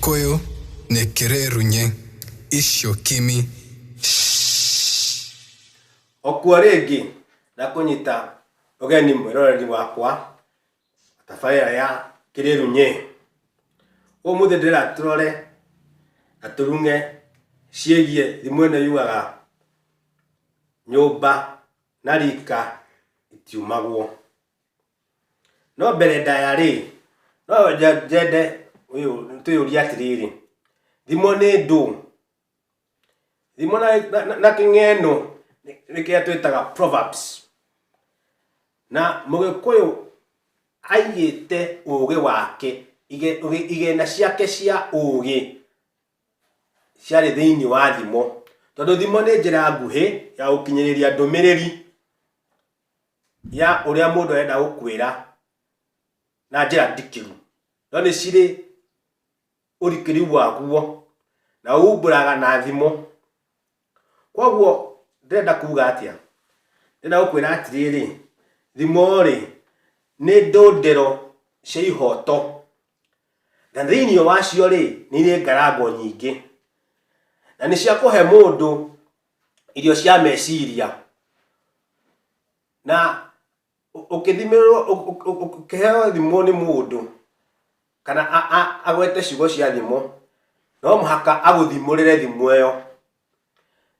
Koyo nĩkĩrerunye icio kimi shhh. Okua rĩngĩ na kũnyita ũgeni mwĩroreri wakwa wa tabarĩra ya Kĩrĩrunyĩ. Ũmũthĩ ndĩrenda tũrore na tũrung'e ciĩgiĩ thimo ĩno yugaga nyũmba na rika itiumagwo. No mbere ndaya-rĩ, no nyende twĩyũrie atĩrĩrĩ, thimo nĩ ndũ? Thimo na kĩng'eno nĩ kĩrĩa twĩtaga proverbs. Na mũgĩkũyũ aigĩte ũgĩ wake, igĩna ciake cia ũgĩ ciarĩ thĩiniĩ wa thimo. Tondũ thimo nĩ njĩra nguhĩ ya gũkinyĩrĩria ndũmĩrĩri ya ũrĩa mũndũ arenda gũkwĩra na njĩra ndikĩru no nĩ cirĩ ũrikĩru waguo na uumbũraga na thimo. Kwoguo ndĩrenda kuuga atĩa? Ndĩrenda gũkwĩra atĩrĩrĩ, thimo rĩ, nĩ ndũndĩro cia ihooto, na thĩinĩ wacio rĩ, nĩ irĩ ngarango nyingĩ, na nĩ cia kũhe mũndũ irio cia meciria na ũkĩthimĩrwo ũkĩheo thimũ nĩ mũndũ kana agwete ciugo cia thimũ no mũhaka agũthimũrĩre thimũ ĩyo.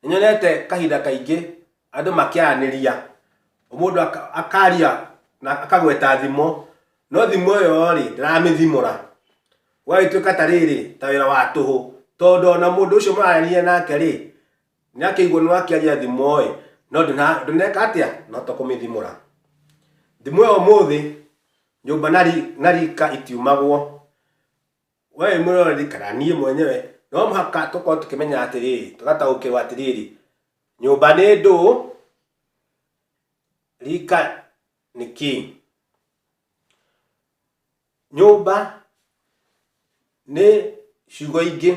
Nĩ nyonete kahinda kaingĩ andũ makĩaranĩria mũndũ akaria na akagweta thimũ no thimũ ĩyo rĩ ndĩramĩthimũra. Gũgagĩtuĩka ta rĩrĩ, ta wĩra wa tũhũ, tondũ o na mũndũ ũcio mũrarĩrĩria nake-rĩ, nĩakĩiguo nĩ wakĩaria thimo-ĩ, no ndũneka atĩa? Ndũnahota kũmĩthimũra. Thimo ĩyo ũmũthĩ, nyũmba na rika itiumagwo, we wĩ mũroreri kana niĩ mwenyewe, no mũhaka tũkorwo tũkĩmenya atĩrĩrĩ, tũgataũkĩrwo atĩrĩrĩ, nyũmba nĩ ndũũ, rika nĩ kĩĩ? Nyũmba nĩ ciugo ingĩ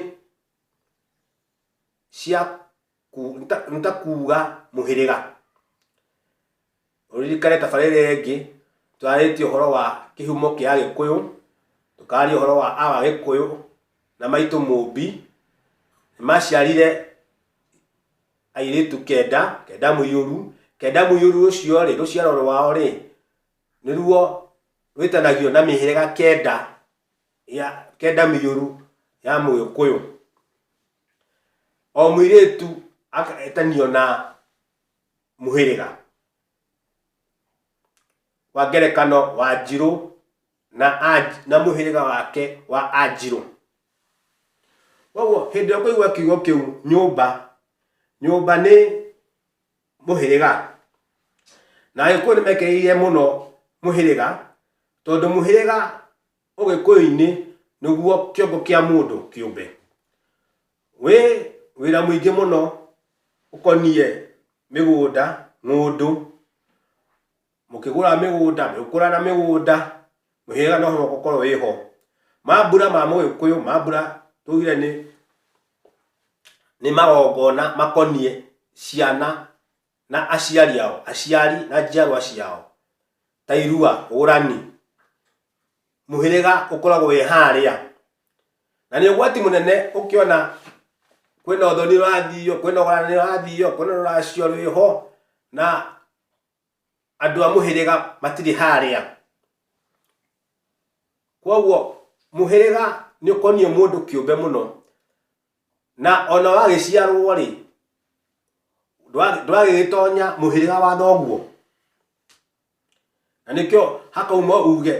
cia ku- nĩ ta- nĩ ta kuuga mũhĩrĩga. Ũririkane tabarĩra ĩrĩa ĩngĩ twarĩtie ũhoro wa kĩhumo kĩa Agĩkũyũ, tũkaria ũhoro wa a Agĩkũyũ na maitũ Mũmbi. Nĩmaciarire airĩtu kenda, kenda mũiyũru. Kenda mũiyũru ũcio-rĩ, rũciaro rwao-rĩ, nĩruo rwĩtanagio na mĩhĩrĩga kenda ya kenda mĩũru ya mũgĩkũyũ o mũirĩtu agetanio na mũhĩrĩga wa ngerekano wa njirũ na anji na mũhĩrĩga wake wa anjirũ koguo hĩndĩ ĩrĩa ũkũigua kiugo kĩu nyũmba nyũmba nĩ mũhĩrĩga na agĩkũyũ nĩ mekereirie mũno mũhĩrĩga tondũ mũhĩrĩga ũgĩkũyũ-inĩ nĩguo kĩongo kĩa mũndũ kĩũmbe wĩ wĩra mũingĩ mũno ũkoniĩ mĩgũnda ng'ũndũ mũkĩgũra mĩgũnda mũgĩkũra na mĩgũnda mũhĩrĩga no mũhaka ũkorwo wĩ ho mambura ma mũgĩkũyũ mambura tugire nĩ nĩ magongona makoniĩ ciana na aciari ao aciari na njiarwa ciao ta irua ũrani mũhĩrĩga ũkoragwo wĩ harĩa na nĩ ũgwati mũnene ũkĩona kwĩna ũthoni ũrathiio kwĩna ũgayani ũrathiio kwĩna rũracio rwĩho na andũ a mũhĩrĩga matirĩ harĩa kwoguo mũhĩrĩga nĩ ũkoniĩ mũndũ kĩũmbe mũno na ona wagĩciarwo rĩ ndwagĩgĩtonya mũhĩrĩga wa thoguo na nĩkĩo hakauma uge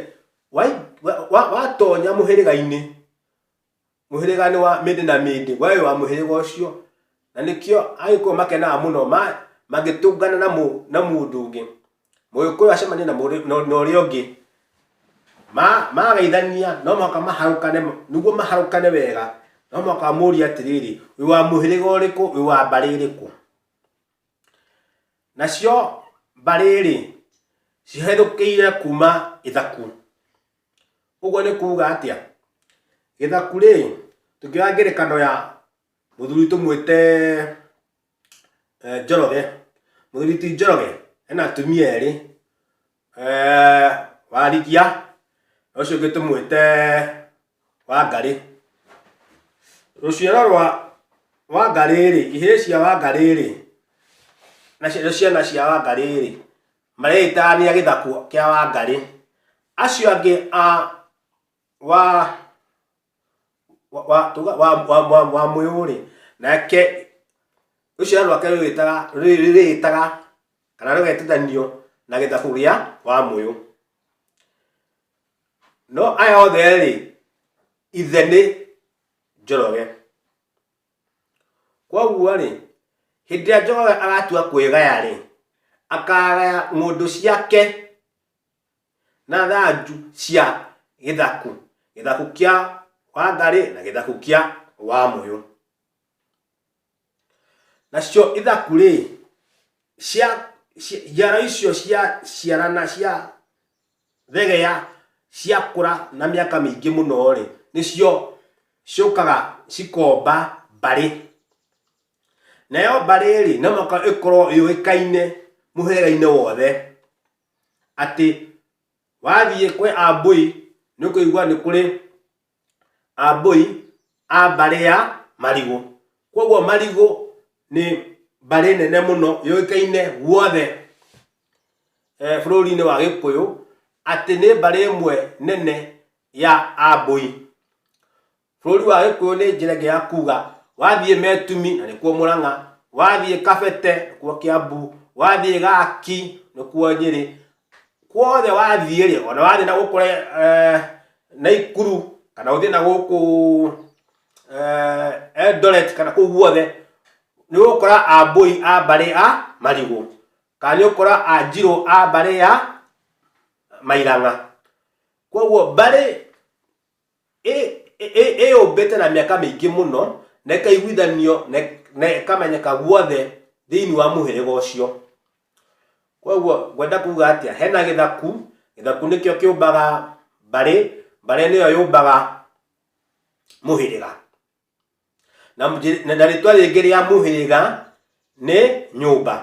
wai- wa- wa- watonya mũhĩrĩga-inĩ mũhĩrĩga nĩ wa mĩndĩ na mĩndĩ we wĩ wa mũhĩrĩga ũcio na nĩkĩo agĩkũyũ makenaga mũno ma- mangĩtũngana na mũ- na mũndũ ũngĩ mũgĩkũyũ acemania na mũrĩ- na- na ũrĩa ũngĩ Ma- magaithania no mũhaka maharũkane nĩguo maharũkane wega no mũhaka amũrie atĩrĩrĩ wĩ wa mũhĩrĩga ũrĩkũ wĩ wa mbarĩ ĩrĩkũ nacio mbarĩ-rĩ ciherũkĩire kuma ithaku Ũguo nĩ kuuga atĩa? Gĩthaku rĩ, tũngĩoya ngerekano ya mũthuri tũmwĩte Njoroge. Mũthuri ti Njoroge ena atumia erĩ, Warigia na ũcio ũngĩ tũmwĩte Wangarĩ. Rũciaro rwa Wangarĩ rĩ, ihĩĩ cia Wangarĩ rĩ, na ciana cia Wangarĩ rĩ, Marĩĩtaania gĩthaku kĩa Wangarĩ. Acio angĩ a wa wa wa wa wa wa wa mwĩũrĩ nake rũciaro rwake rwĩtaga rwĩtaga kana rũgetithanio na gĩthaku gĩa wa mũyũ no aya othe rĩ ithe nĩ njoroge Kwoguo-rĩ, hĩndĩ ĩrĩa Jehova agatua kwĩgaya-rĩ, akagaya ng'ũndũ ciake na thanju cia gĩthaku, gĩthaku kĩa Wangarĩ na gĩthaku kĩa Wamũyũ. Nacio ithaku-rĩ, cia, cia, njiaro icio cia ciarana cia thegea ciakũra na mĩaka mĩingĩ mũno rĩ nĩcio ciũkaga cikomba mbarĩ nayo mbarĩ rĩ no mũhaka ĩkorwo yũĩkaine mũhĩrĩga-inĩ wothe atĩ wathiĩ kwĩ ambũi nĩ ũkũigua nĩ kũrĩ a mbũi a mbarĩ ya marigũ kwoguo marigũ nĩ mbarĩ nene mũno yũĩkaine guothe eh, bũrũri-inĩ wa gĩkũyũ atĩ nĩ mbarĩ ĩmwe nene ya ambũi bũrũri wa gĩkũyũ nĩ njĩra ĩngĩ ya kuga wathiĩ metumi na nĩkuo mũrang'a wathiĩ kabete nĩkuo kĩambu wathiĩ gaki nĩkuo nyĩrĩ kuothe wathiĩ rĩ ona wathiĩ na gũkũ eh, naikuru kana ũthiĩ na gũkũ eh, eldoret kana kũu guothe nĩ ũgũkora ambũi a mbarĩ a marigũ kana nĩ ũgũkora a njirũ a mbarĩ ya mairang'a koguo mbarĩ ĩyũmbĩte na mĩaka mĩingĩ mũno, na ĩkaiguithanio na ĩkamenyeka guothe thĩinĩ wa mũhĩrĩga ũcio. Koguo ngwenda kuuga atĩa? Hena gĩthaku, gĩthaku nĩkĩo kĩũmbaga mbarĩ, mbarĩ nĩyo yũmbaga mũhĩrĩga. na mũnjĩ- na- na rĩtwa rĩngĩ rĩa mũhĩrĩga nĩ nyũmba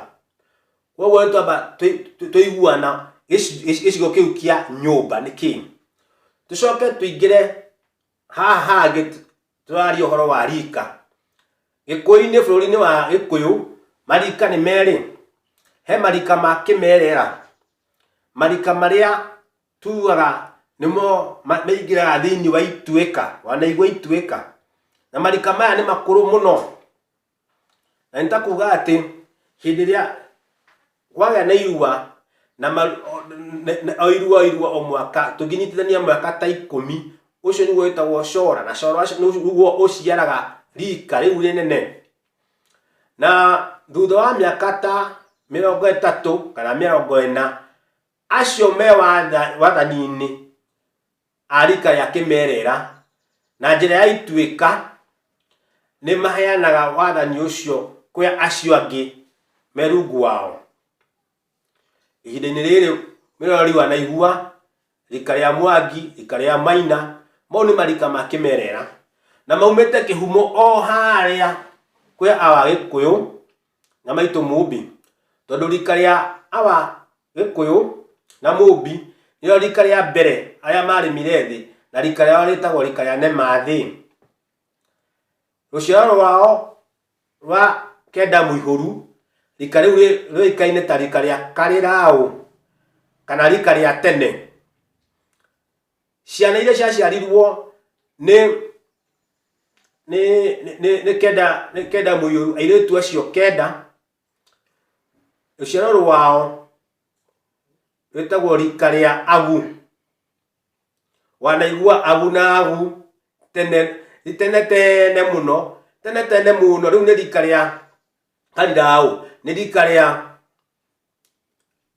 koguo nĩ twamba tũi- tũ- tũiguana gĩci- gĩci- gĩcigo kĩu kĩa nyũmba nĩ kĩĩ tũcoke tũingĩre haha hangĩ tũ- tũraria ũhoro wa rika gĩkũyũ-inĩ bũrũri-inĩ wa gĩkũyũ marika nĩ merĩ he marika ma kĩmerera marika marĩa Tuaga nĩmo ma- maingĩraga thĩinĩ wa ituĩka wanaigua ituĩka na marika maya nĩ makũrũ mũno na nĩ ta kuga atĩ hĩndĩ ĩrĩa kwagĩa na irua na ma- o- na- na- o irua o irua o mwaka tũngĩnyitithania mwaka ta ikũmi ũcio nĩguo wĩtagwo cora na cora ũcio nĩguo ũciaraga rika rĩu rĩnene na thutha wa mĩaka ta mĩrongo ĩtatũ kana mĩrongo ĩna Acio me watha- wathani-inĩ a rika rĩa kĩmerera na njĩra ya ituĩka nĩ maheanaga wathani ũcio kwĩ acio angĩ me rungu wao. Ihinda-inĩ rĩrĩ nĩrĩo riwa na igua, rika rĩa mwangi, rika rĩa maina, mau nĩ marika ma kĩmerera na maumĩte kĩhumo o harĩa kwĩ a Wagĩkũyũ na maitũ mũmbi tondũ rika rĩa awa gĩkũyũ na mũmbi nĩo rika rĩa mbere arĩa marĩmire thĩ na rika rĩao rĩtagwo rika rĩa nemathĩ rũciaro rwao rwa kenda mũihũru rika rĩu rĩ- rĩũĩkaine ta rika rĩa karĩraũ kana rika rĩa tene ciana iria ciaciarirwo nĩ nĩ nĩ- nĩ nĩ kenda nĩ kenda mũiyũru airĩtu acio kenda rũciaro rwao rwĩtagwo rika rĩa agu wanaigua agu na agu tene nĩ tene tene mũno tene tene mũno rĩu nĩ rika rĩa kariraũ nĩ rika rĩa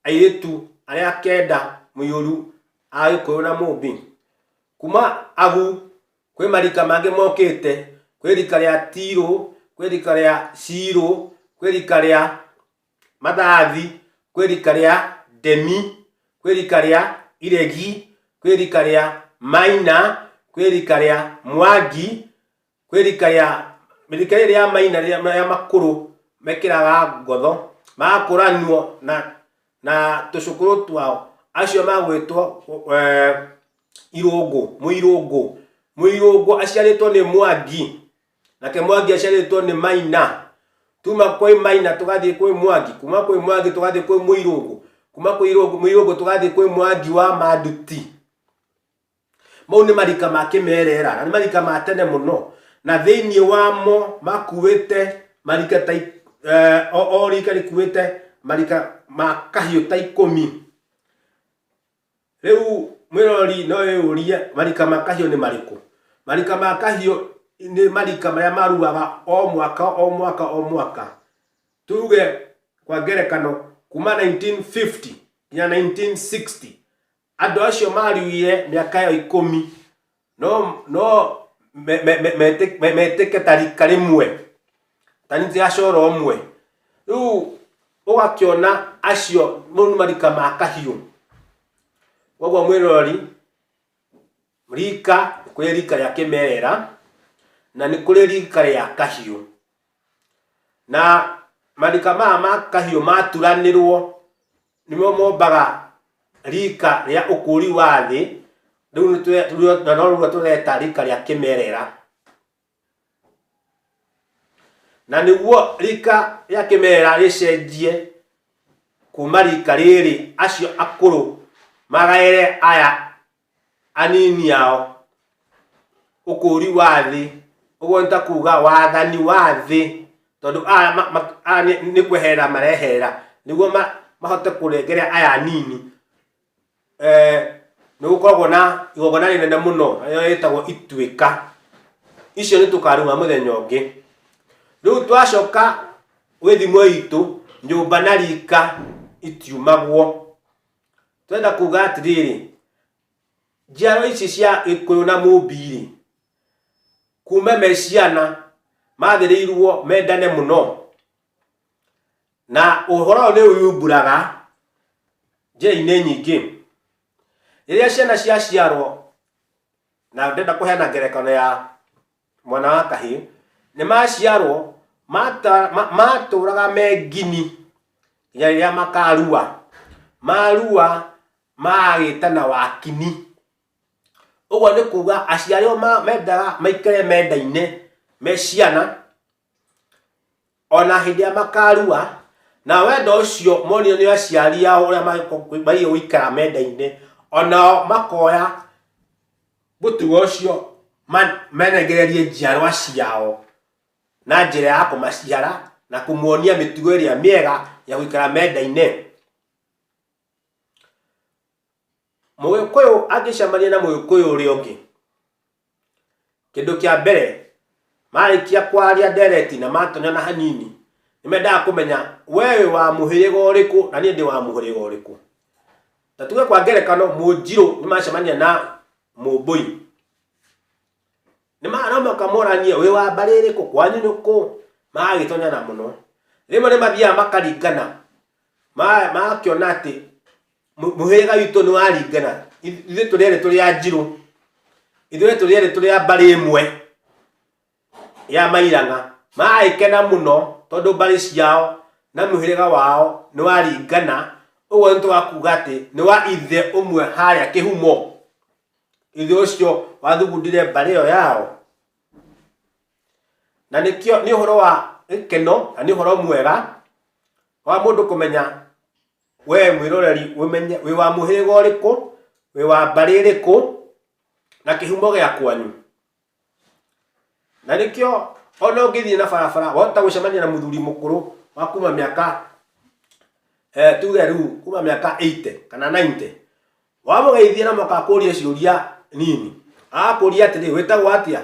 airĩtu arĩa kenda mũiyũru a gĩkũyũ na mũmbi kuma agu kwĩ marika mangĩ mokĩte kwĩ rika rĩa tirũ kwĩ rika rĩa cirũ kwĩ rika rĩa mathathi kwĩ rika rĩa ndemi kwĩ rika rĩa iregi kwĩ rika rĩa maina kwĩ rika rĩa mwangi kwä rika rä a rika rä rä rä a maina rä a makå rå mekĩraga ngotho magakũranio na na tũcũkũrũ twao acio magwĩtwo eh, irũngũ mũirũngũ mũirũngũ aciarĩtwo nĩ mwangi nake mwangi aciarĩtwo nĩ maina tuma kwĩ maina tũgathiĩ kwĩ mwangi kuma kwĩ mwangi tũgathiĩ kwĩ mũirũngũ kuma kwĩ irũngũ mũirũngũ tũgathiĩ kwĩ mwangi wa manduti mau nĩ marika ma kĩmerera na nĩ marika ma tene mũno na thĩinĩ wamo makuĩte marika ta ik- eh, o o rika rĩkuĩte marika ma kahiũ ta ikũmi rĩu mwĩrori no ĩyũrie marika ma kahiũ nĩ marĩkũ marika ma kahiũ nĩ marika marĩa maruaga o mwaka o mwaka o mwaka tuge kwa ngerekano kuma 1950 nginya 1960 Andũ acio maariũire mĩaka ĩyo ikũmi no no me- me- me- meti- me- metĩke ta rika rĩmwe ta nitĩ ya coro ũmwe rĩu ũgakĩona acio mau nĩ marika ma kahiũ koguo mwĩroreri rika nĩ kũrĩ rika rĩa kĩmerera na nĩ kũrĩ rika rĩa kahiũ na marika maya ma kahiũ maturanĩrwo nĩmo mombaga rika rĩa ũkũũri wa thĩ rĩu nĩtwe- rĩu- na no rĩu tũreta rika rĩa kĩmerera na nĩguo rika rĩa kĩmerera rĩcenjie kuma rika rĩrĩ acio akũrũ magaĩre aya anini ao ũkũũri wa thĩ ũguo nĩ ta kuuga wathani wa thĩ tondũ aya ma- ma- aya nĩ- nĩ kwehera marehera nĩguo ma- mahote kũrengere aya anini Eh, nĩ gũkoragwo na igongona rĩnene mũno rĩrĩa rĩtagwo ituĩka icio nĩ tũkaruga mũthenya ũngĩ rĩu twacoka gwĩthimo itũ nyũmba na rika itiumagwo twenda kuga atĩrĩrĩ njiaro ici cia gĩkũyũ na mũmbi-rĩ kuma me ciana magĩrĩirwo mendane mũno na ũhoro ũyũ nĩ ũyumburaga njĩra-inĩ nyingĩ rĩrĩa ciana ciaciarwo na ndenda kũheana ngerekano ya mwana wa kahĩ nĩ maciarwo mata- ma- matũũraga mengini nginya rĩrĩa makarua marua magagĩtana wakini ũguo nĩ kuga aciari ao ma- mendaga maikare mendaine me ciana o na hĩndĩ ĩrĩa makarua na wendo ũcio monire nĩ aciari ao ũrĩa maigĩ gũikara menda-inĩ o nao makoya mũtugo ũcio ma- menegererie njiarwa ciao na njĩra ya kũmaciara na kũmuonia mĩtugo ĩrĩa mĩega ya gũikara menda-inĩ mũgĩkũyũ angĩcemania na mũgĩkũyũ ũrĩa ũngĩ Kĩndũ kĩa mbere, marĩkia kwaria ndereti na matonyana hanini, nĩ mendaga kũmenya we wĩ wa mũhĩrĩga ũrĩkũ na niĩ ndĩ wa mũhĩrĩga ũrĩkũ. Ta tuge kwa ngerekano Mũnjirũ nĩ macemania na Mũmbũi, no mũhaka moranie wĩ wa mbarĩ ĩrĩkũ, kwanyu nĩ kũ? Magagĩtonyana mũno. Rĩmwe nĩ mathiaga makaringana, makĩona atĩ Mũ- mũhĩrĩga witũ nĩ waringana Ithu- ithuĩ tũrĩ erĩ tũrĩ a njirũ ithuĩ tũrĩ erĩ tũrĩ a mbarĩ ĩmwe ya mairana magagĩkena mũno tondũ mbarĩ ciao na mũhĩrĩga wao nĩ waringana ũguo nĩ twakuga atĩ nĩ wa ithe ũmwe harĩa kĩhumo ithe ũcio wathugundire mbarĩ ĩyo yao na nĩkĩo nĩ ũhoro wa gĩkeno na nĩ ũhoro mwega wa mũndũ kũmenya wee mwĩroreri wĩmenye wĩ wa mũhĩrĩga ũrĩkũ wĩ wa mbarĩ ĩrĩkũ na kĩhumo gĩa kwanyu na nĩkĩo ona ũngĩthiĩ na barabara wahota gũcemania na mũthuri mũkũrũ wa kuma mĩaka eh, tuge rĩu kuma mĩaka 80 kana 90 wamũgeithia na moka akũrie ciũria nini akũria atĩrĩ wĩtagwo atĩa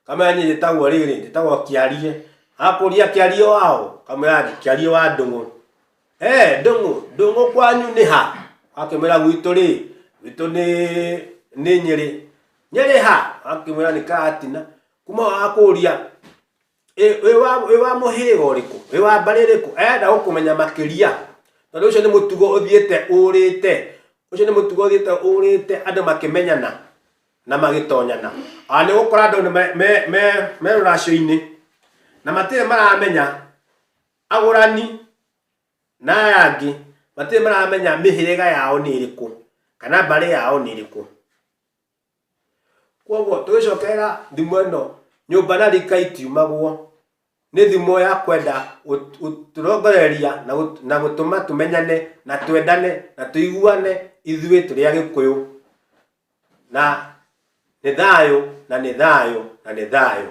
kamera niĩ njĩtagwo rĩrĩ njĩtagwo kĩarie akũria kĩarie wao kamera kĩarie wa ndũng'ũ eh ndũng'ũ ndũng'ũ kwanyu nĩ ha akĩmwĩra gwitũ rĩ gwitũ nĩ nĩ nyĩrĩ nyĩrĩ ha akĩmwĩra nĩ karatina kuma akũria Ĩ- wĩ wa- wĩ wa mũhĩrĩga ũrĩkũ wĩ wa mbarĩ ĩrĩkũ arenda gũkũmenya makĩria tondũ ũcio nĩ mũtugo ũthiĩte ũrĩte ũcio nĩ mũtugo ũthiĩte ũrĩte andũ makĩmenyana na magĩtonyana ona nĩ gũkora andũ nĩ me- me- me- me rũracio-inĩ na matirĩ maramenya agũrani na aya angĩ matirĩ maramenya mĩhĩrĩga yao nĩ ĩrĩkũ kana mbarĩ yao nĩ ĩrĩkũ Kwoguo tũgĩcokerera thimo ĩno nyũmba na rika itiumagwo nĩ thimo ya kwenda gũtũrongoreria na gũtũma tũmenyane na twendane na tũiguane ithuĩ tũrĩ Agĩkũyũ na nĩ thayũ na nĩ thayũ na nĩ thayũ.